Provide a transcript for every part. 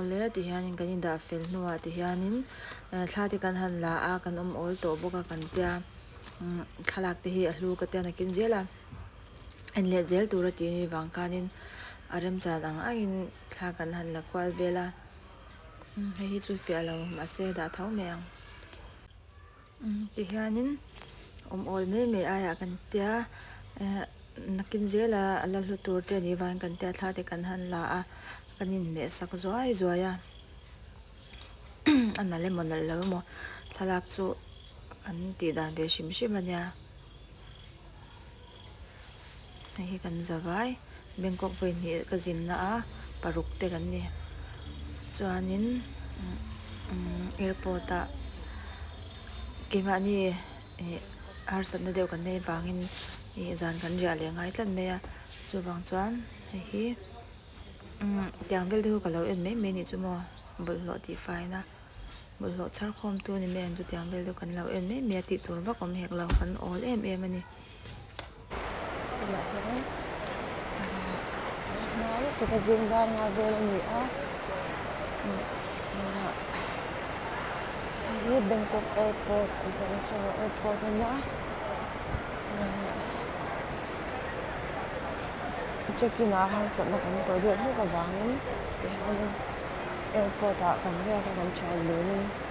Awle tih hianin kan indah fel hnuah tih hianin ehh thla te kan han la a kan awmawl tawh bawk a kan tia umm thlalak te hi a hlu ka tian a kin zel a en leh zel tura tih hi vang khanin a remchan ang angin thla kan han la kual vel a umm hei hi chu fiah lo mahse dah tho mai ang. Tihianin awmawl mai mai aiah kan tia, nakin zela a la hlu tur te nih vain kan tia thla te kan han la a, kan inhmeh sak zuai zuai a, a nalh emaw nalh lo emaw thlalak chu kan tih dan ve hrim hrim a nia. hei hi kan za vai bangkok vawihnihah ka zinna a paruk te kan ni chuanin umm airport ah keimahni ih harsatna deuh kan nei vangin ih zan kan riah leh ngai tlat mai a chuvang chuan hei hi umm tiang vel te chu ka lo en mai mai ni chu maw bawlhhlawh tih faiin a bawlhhlawh chhar khawm tu ni mai ang chu tiang vel deuh kan lo en mai mai a tih tur vak awm hek lo kan awl em em a ni. tunah hian hmai taka zing dang nga vel a ni a hei hi bangkok airport international airport a nia check in ah harsatna kan tawh deuh hlek avangin tihian airport ah kan riak a kan thianlêl in.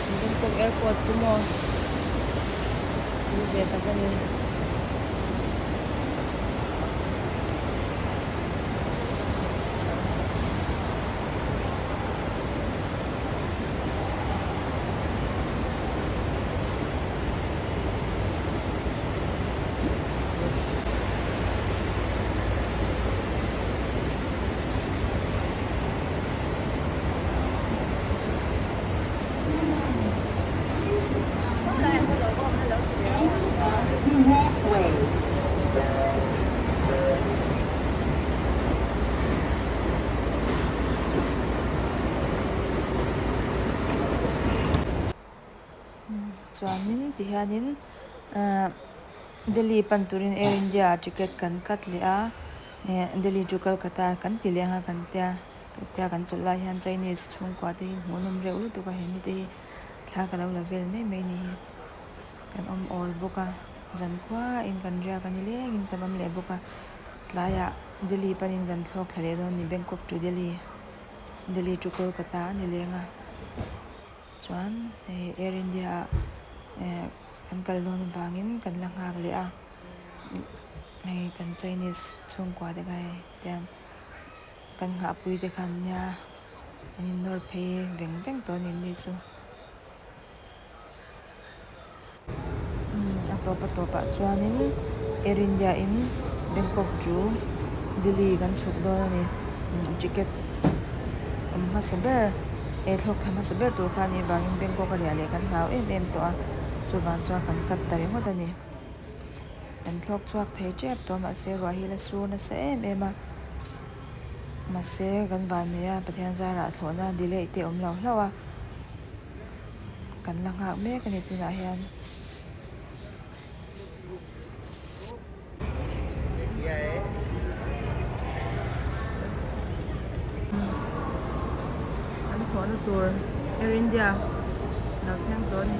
Bangkok airport chu maw tih ve tak a ni. Chuanin tihianin ehh delhi pan turin air india ah ticket kan cut leh a ehh delhi to kolkata kan ti leh ang a kan tia. Hetia kan chawlh lai hian Chinese chhungkua te hi hmuh nawm reuh lutuk a, he mite hi thla ka lo la vel mai mai ni hi. Kan awm awl bawk a, zan khuaa in kan riak a ni leng in kan awm leh bawk a, tlaiah Delhi pan in kan thlawk thla leh dawn a ni, Bangkok to Delhi, Delhi to Kolkata a ni leng a, chuan hei Air India ah ehh kan kal dawn avang in kan la nghak leh a, hei kan Chinese chhungkua te kha hei tiang. Kan nghahpui te khan nia an in nawr phei veng veng tawh a ni ni chu umm a tawpa tawpah chuanin air india in bangkok to delhi kan chhuk dawn a ni umm ticket awm hmasa ber eh thlawk tha hmasa ber tur khan ivangin bangkok a riah leh kan hlau em em tawh a chuvang chuan kan cut ta ringawt a ni. Kan thlawk chhuak thei tep tawh mahse ruah hi la sur nasa em em a. Mahse kan van nei a Pathian zara a thlawhna delay te awm lo hlauh a. Kan la nghak mek a ni tunah hian. Kan thlawhna tur Air India lo thleng tawh a ni.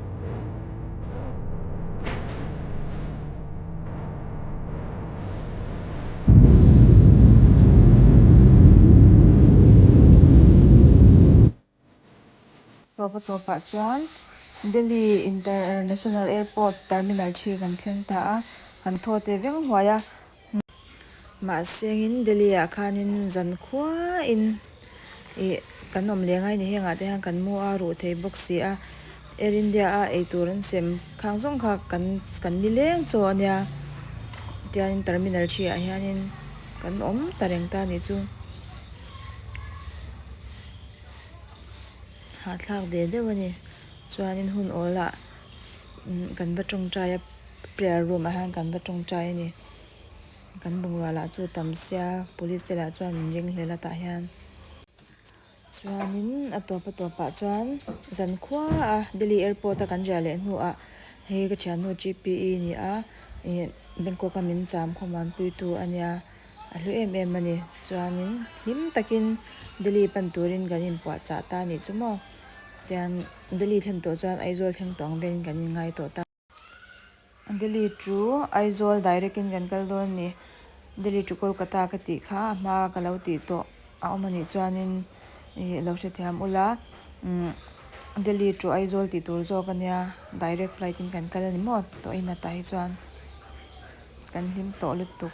Tawp a tawp ah chuan Delhi International Airport Terminal three kan thleng ta a, kan thaw te veng huai a. Mahse angin Delhi-ah khanin zan khuain ih kan awm leh ngai ni hengah te hian kan mu a, ruh thei bawk si a, Air India-a eitur an sem khang zawng kha kan kan ni leng chaw a nia, tianin terminal three-ah hianin kan awm ta reng ta ni chu. Hahthlak ve deuh a ni, chuanin hun awl ah kan va tawngtai a. Prayer room ah hian kan va tawng chai a ni. Kan bungrua lah chu tam sia police te lah chuan min ring hle la tah hian. Chuanin a tawp a tawp ah chuan zan khuaa Delhi airport a kan riah leh hnu ah hei ka thian hnu GPE a ni a, ih Bangkok a min cham khawm ang pui tu a nia. A hlu em em a ni. Chuanin hlim takin Delhi pan turin kan in puah chah ta a nih chu maw. Tian Delhi thlen tawh chuan Aizawl thleng tawh ang velin kan in ngai tawh ta. Delhi chu Aizawl direct in kan kal dawn a ni. Delhi to Kolkata ka tih kha a hma ka lo tih tawh a awm a nih chuan in ih lo hrethiam ula umm Delhi to Aizawl tih tur zawk a nia direct flight in kan kal a ni maw tawh in a tah hi chuan kan hlim tawh lutuk.